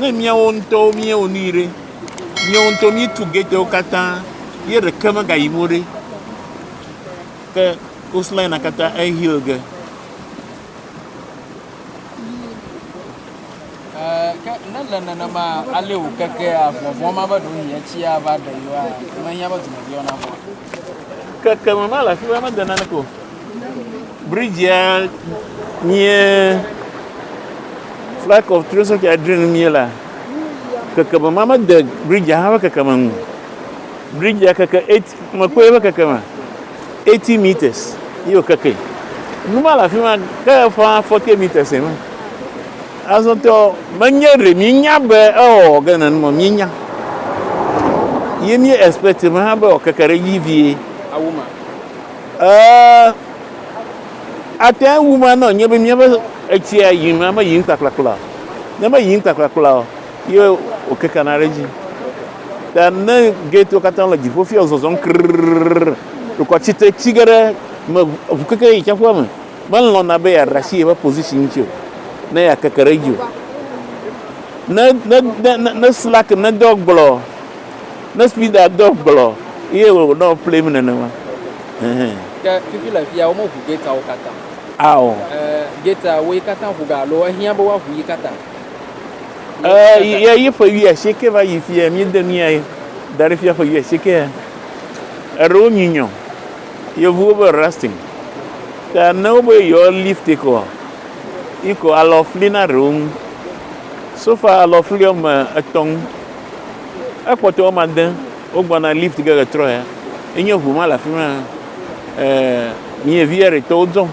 Ne míawo ŋutɔwo míewɔ nui ɖe, míawo ŋutɔ míetu getewo katã ye ɖeke megayim o ɖe, ke coastline katã eheal ge. ke ne le nenema ale wòkekea vɔvɔ̃ ma be ɖewohĩ etsi ava ɖe yewoa, mehiã be dumeviwo navɔ̃. Keke me mele afi ma mede naneke o. Bridge-a nye flight of three sɔkè adre nu mie la kekeme ma me de bridge-a hã ƒe kekeme nu. Bridge-a keke eight me kpɔe ƒe kekeme eighty meters ye wòkeke. Nu ma le afi ma ke ƒã forty meters ema. Azɔ tɔ menye ɖe míenya be ewɔ ge nenu ma míenya. Ye mí expect me hã be wòkeke ɖe edzi vie. Ɛɛ, ate ŋu me anɔ anyi be míaƒe etsia yim ame yiyim kplakplakpla o. Ne meyiyim kplakplakpla o, ye wòkekena ɖe edzi. Ta ne gɛtiwo katã le dziƒo fia zɔzɔm krrrrrr, dukɔ tsite tsi ge ɖe me ŋu keke yi tsiaƒua me, melɔ̃na be yeaɖe asi yeƒe position ŋuti o, ne yeakeke ɖe edzi o. Ne, ne, ne, ne, ne Slack nedɔ gblɔ. Ne Spida do gblɔ ye wònɔ ƒlim nenema. Hɛhɛ. Ke fifi le fia womeʋu gateawo katã o. Ao. E, gatea woe katã ʋu ga alo ehiã be woaʋu yi katã? E, ye yi ƒe wuiasieke va yi fia míede mía da ɖe fia ƒe wuiasiekea. Eɖewo nyi nyɔ. Yevuwo be rusting. Ke ne wobe yewoa lift kɔa, yi ko alɔ fli na ɖewo ŋu. So far alɔ fli wɔme etɔ̃ ŋu ekpɔtɔ wɔme ade wogbɔna lift ge le trɔya enye ʋu ma le afima miyevi eri tɔwo dzɔm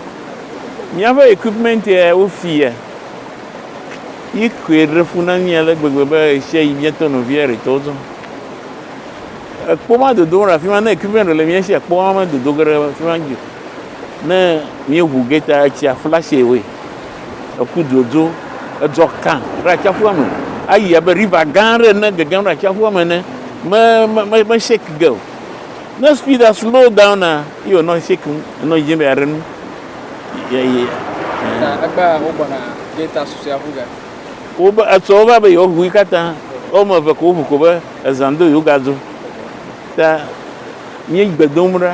miaƒe equipment ya wofi ya yi koe ɖe fu na mi ale gbegbe be esia yi mietɔ no vi eri tɔwo dzɔm ekpo ma dodo le afima ne equipment le mia si ekpo ma me dodo ge ɖe afima Ne míeŋu geta etsia flash away. Eku dzodzo edzɔ kã ɖe atsiaƒua me. Ayi abe riva gã aɖe ene gegem ɖe atsiaƒua me ene. Me me me me shake ge o. Ne speeda slow down na ye wònɔ shake ŋu nɔ dzedzem be yeaɖe nu. Ye ye Na eh. egbea wogbɔna geta susɔea ŋu ge. Wobe etsɔ wo va be yewoaŋui katã. Woame eve ko woŋu ko be ezã do yewogado. Ta míegbe dom ɖa.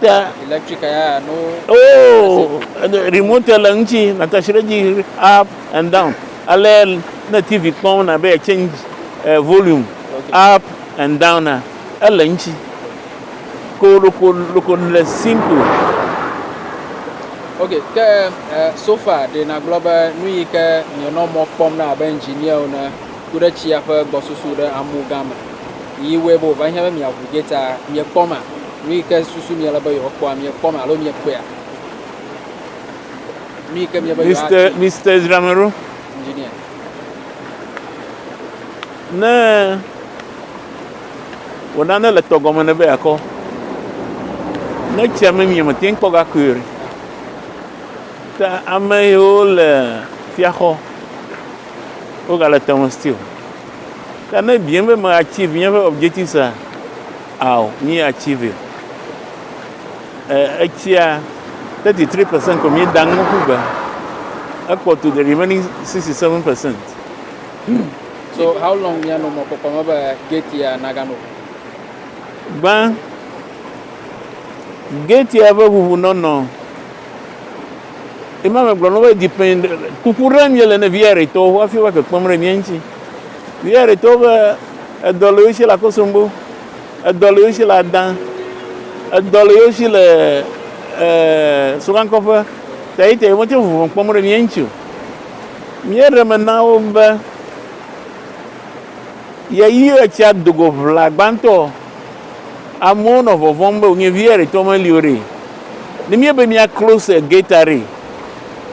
Te. Electric ya no. Oh, remote le ŋuti, nàte si ɖe dzi up and down. Ale ne TV kpɔm na be change eh, volume up and down na ele ŋuti. Ko loko loko le simple. Ok, ke eh, sofa ɖe nagblɔ be nu yi ke mienɔ mɔ kpɔm na abe engineer ne ku ɖe tsia ƒe gbɔsusu ɖe amu gã me. Yi wɔe be wòva hiã be miaʋu gate-a, miekpɔ ma? Nu yi ke susu miele be yewoakpɔa, miekpɔna alo miekpɔea? Nu yi ke miebe yewoatsi. Mister, Mister Ezra me ɖo? Engineer. Ne wò nane le tɔ gɔme ne be yeakɔ, ne tsia me mie mète ŋu kpɔ gakui o ɖe? Ta ame yiwo le fiaxɔ, wogale tɔ me still. Ta ne ebiem be meachieve nye ƒe objectives-a, Ao mi achieve e etsia 33% ko mi dang nuku be ekpɔ to the remaining 67%. So how long ya no mo ko ko be gate ya nagano. Gbã gate ya be huhu nono. Ima me gblɔ no be depend kuku ɖe mi le ne via re to wa fi wa ke kpɔm re mi nti. Yɛ ɖe to be edɔ le yoshi le akosombo, edɔ le yoshi le adan, edɔ le yoshi le eh, sokankɔƒe, ta yi ta yi mo tse vuvɔ kpɔm ɖe mìɛ ŋtsi o. Mìɛ ɖe me na wo be yɛ yi etsia dogo ʋla gbãtɔ, amewo nɔ vɔvɔm be wònye viɛ ɖe tɔ me li o ɖe. Ne mìɛ be mìa close gate a ɖe,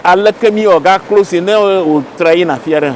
aleke mìɔ ga close ne wò tra yi na afiaɖe hã?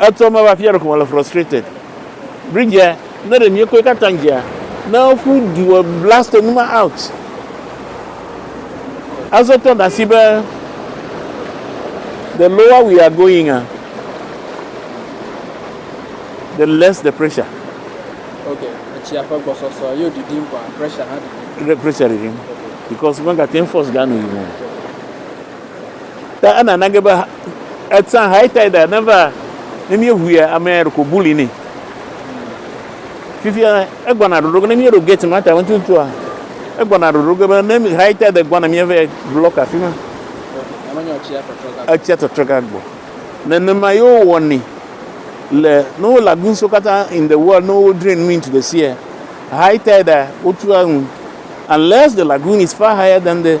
Etsɔ me va fia ɖeko mele frustrated. Bridge ne ɖe mie koe katã dzia ne ƒu du wɔ blast enu ma out. Azɔ tɔ ɖe asi be the lower we are going a the less the pressure. Ok, etsia ƒe gbɔsɔsɔ yo ɖiɖim kɔa pressure hã ɖiɖim. Pressure ɖiɖim because mega ten force ga nu yi mo. Ta enana ge be etsã high tide neva ne míeŋuia amea ɖeko bully nɛ. Fifia egbɔna ɖoɖo ge ne míeɖo gate ma ta ŋututua egbɔna ɖoɖo ge be ne high tide gbɔna míeva block afi ma. Etsia tɔtrɔ gagbɔ. Nenema ye wowɔnɛ le ne wo lagoon so katã in the world ne wo drain nu into the sea high tide wotua nu unless the lagoon is far higher than the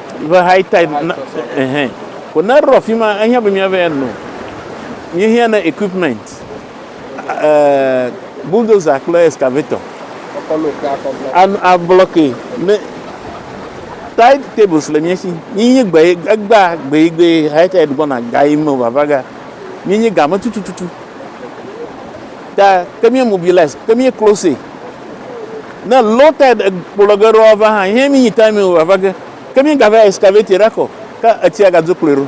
Ve high tide na ehe ko ne rɔ fima ehia be mia ve ya no mi hia ne equipment eh bulldozer kple excavator a block ne tide tables le mia si mi nyi gbe egba gbe gbe high tide gbɔ na ga yi me vava ga mi nyi ga me tutututu. Ke, ke mie mobilize, ke mie close ne low tide ekplɔ ge ɖoa va hã, ihe mi nyi time mi va ge. Ke mie ga va excavate ɖa kɔ, ke etsia ga dzo kplɔe ɖo.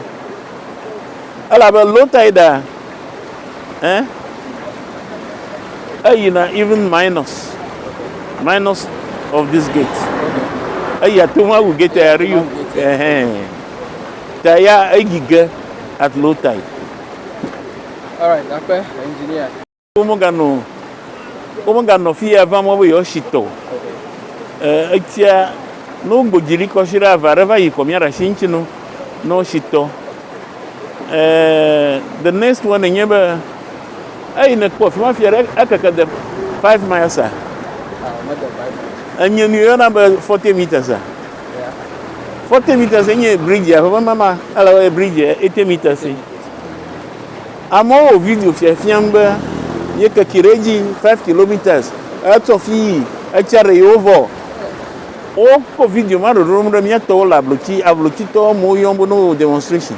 Ele abe low tide a, eh, eyi na even minus, minus of this gate. Eyi ate ŋu awu gate ya ɖo, eh, ta ya eyi ge at low tide. Womeganɔ, womeganɔ afi ya va mɔ be yewoasi tɔ o. E, etsia, ne wogbodzi ɖi kɔshi ɖe ava ɖe va yi kɔ míaɖe asi ŋuti no, ne wosi tɔ. E, the next one nye be, eyi nekpɔ afi ma fia ɖe, ekeke de five miles a? Enye nu yɔna be forty meters a? Forty meters enye bridge a ƒe mama, ele wɔe bridge eighty meters. Amewo wɔ video fiafiam be yekeke ɖe edzi five kilometres etsɔ fi yi etsia ɖe yewo vɔ. Wokɔ video ma ɖoɖom ɖe mía tɔwo le ablotsi, ablotsitɔwo amewo yɔm be ne wowɔ demonstration.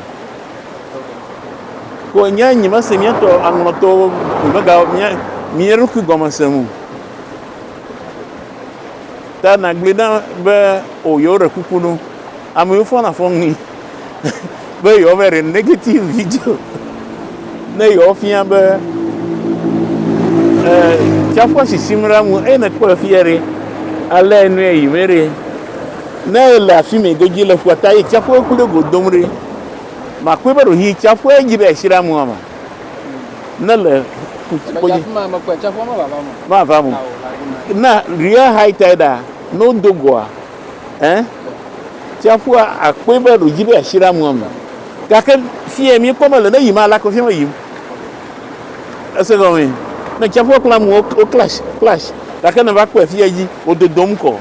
Ko nye nyemese mía tɔ aŋlɔtɔwo mega mía mía ɖokui gɔme se ŋu. Ta nagblɔe na be o yewo ɖe kuku nu. Amewo fɔna fɔŋli be yewoava ɖe negative video ne yewoafia be e, tsiaƒua sisim ɖe amu eye nekpɔ afia ɖe alé enu yi me ɖe ne ele afi me godzi le ƒua ta eye tsiaƒua ku ɖe go dom ɖe makpɔe be ɖewohĩ tsiaƒua dzi ɖe asi ɖe amua me ne le ƒukpodzi mava mo na real high tide ne wodo goa ɛ tsiaƒua akpɔe be ɖodzi be asi ɖe amua me gake fie mi kpɔ mele ne yim ala ko fie me yim ese gɔme ne tsiaƒua kple amu wo clash clash gake ne va kpɔe fie dzi wo dodom kɔ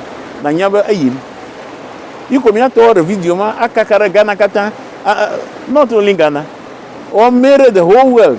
na nya be eyim yi ko mia tɔ ɖe video ma akaka ɖe Ghana katã not only Ghana or mere the whole world